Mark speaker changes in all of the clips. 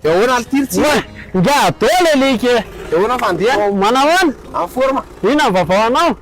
Speaker 1: Dia ahoana Altir tsy Oa, ingahy Ado
Speaker 2: le link e! Dia ahoana fandehana?
Speaker 1: Oh, manahoana? En
Speaker 2: forme? Inona
Speaker 1: ny vaovao anao?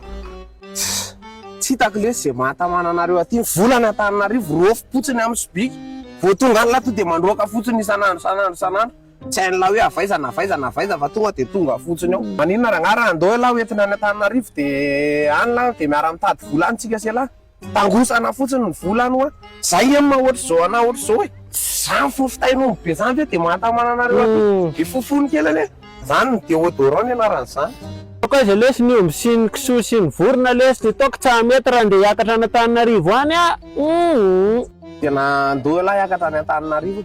Speaker 1: Tsy hitako lesy izay mahatamana anareo aty. Ny volana Antananarivo rofy potsiny amin'ny sobika. Vao tonga any lato dia mandroaka fotsiny isan'andro, isan'andro, isan'andro. Tsy hain'lah hoe avaiza na avaiza na avaiza fa tonga dia tonga fotsiny ao. Maninona rangah raha andao elah hoentina any Antananarivo dia any lah dia miara mitady vola any tsika sy elah. Tangosana fotsiny ny vola any hoa. Zay nge ma ohatr'izao anah ohatr'izao e. Zany fofo tain'omby be zany ve dia mahatamana anareo aby e. Be fofony kely anie. Zany ny deodorant ny anaran'izany. Toaka aiza lesy
Speaker 2: ny omby sy ny kisoa sy ny vorona lesy dia toaka tsa mety raha ndeha hiakatra any Antananarivo any ah!
Speaker 1: Tena andao elah hiakatra any Antananarivo.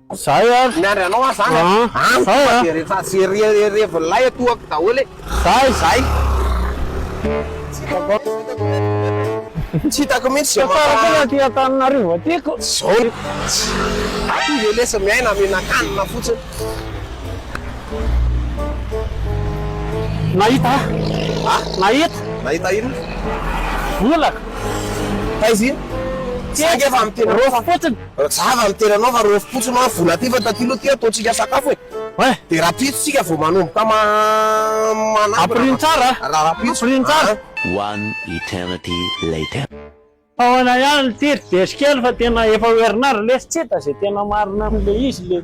Speaker 1: Zay
Speaker 2: ary. Miandry anao aho zany
Speaker 1: an. An. Zay an. Dia rehefa
Speaker 2: tsy
Speaker 1: revin'ilay atohako daholo e. Zay. Zay. Tsy
Speaker 2: hitako aho.
Speaker 1: Tsy hitako mihitsy zao. Tsara foana aty Antananarivo
Speaker 2: aty ko. Zao.
Speaker 1: Aty ve lesy miaina mihinan-kanina fotsiny.
Speaker 2: Nahita aho. An. Nahita.
Speaker 1: Nahita inona? Vola. Taiza iny? Saingy efa amin'ny tena. Roa fotsiny.
Speaker 2: Rajava ny tena anao
Speaker 1: fa rôfy potsy ma vola aty fa taty lo ty ataontsika sakafo e Oay. De rapitso tsika vao manomboka ma manangona Ampirino tsara a!
Speaker 2: Ra rapitso Ampirino tsara.
Speaker 1: Aa.
Speaker 2: One
Speaker 3: eternity later. Ahoana
Speaker 2: ihany ity ry Jeso kely fa tena efa ho herinandro lesy tsy hita izay tena marina amin'ilay izy ilay.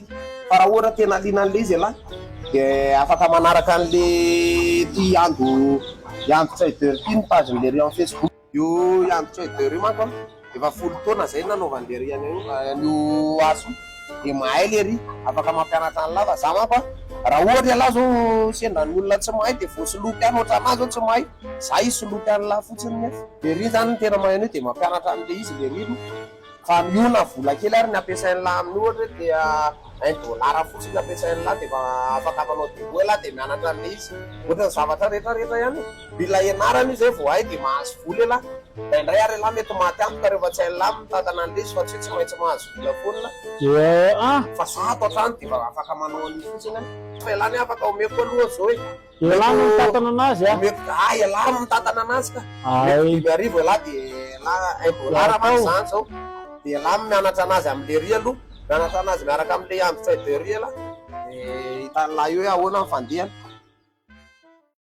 Speaker 1: Fa raha ohatra tena liana an'ilay izy ialahy dia afaka manaraka an'ilay ity Yando Yando Trader ity ny page ny Lerian Facebook. Io Yando Trader io manko an, efa folo taona izay no nanaovan'i Lerian an'io asa io, dia mahay lery, afaka mampianatra an'lah, fa za manko an, raha ohatra ialahy zao sendra ny olona tsy mahay dia voasoloky any, ohatra anah zao tsy mahay, za hisoloky an'lah fotsiny nef. Lery zany no tena mahay an'io dia mampianatra an'ilay izy lery no. Fa miona vola kely ary ny ampiasain'lah amin'ny ohatra hoe dia un dollar fotsiny ny ampiasain'lah dia efa afaka manao dépôt hoe lah dia mianatra an'ilay izy. Ohatra ny zavatra rehetra rehetra ihany e! Mila ianarana io izay vao hay dia mahazo vola elah. Indraindray ary elah mety maty antoka rehefa tsy hain'lah ny mitantana an'ilay izy fa tsy hoe tsy maintsy mahazo vola foana elah. Fa zah ato an-trano dia efa afaka manao an'io fotsiny an! Fa elah anie afaka omeko aloha zao e! Ialahy no mitantana
Speaker 2: anazy a. Omeko ah ialahy no mitantana
Speaker 1: anazy ka. Omeko dimy arivo ialahy de ialahy un dollar manko izany zao. De ialahy no mianatra anazy am le riz aloha. Mianatra anazy miaraka am le andry tray de riz ialahy. De hitan'ilahy eo hoe ahoana ny fandehany.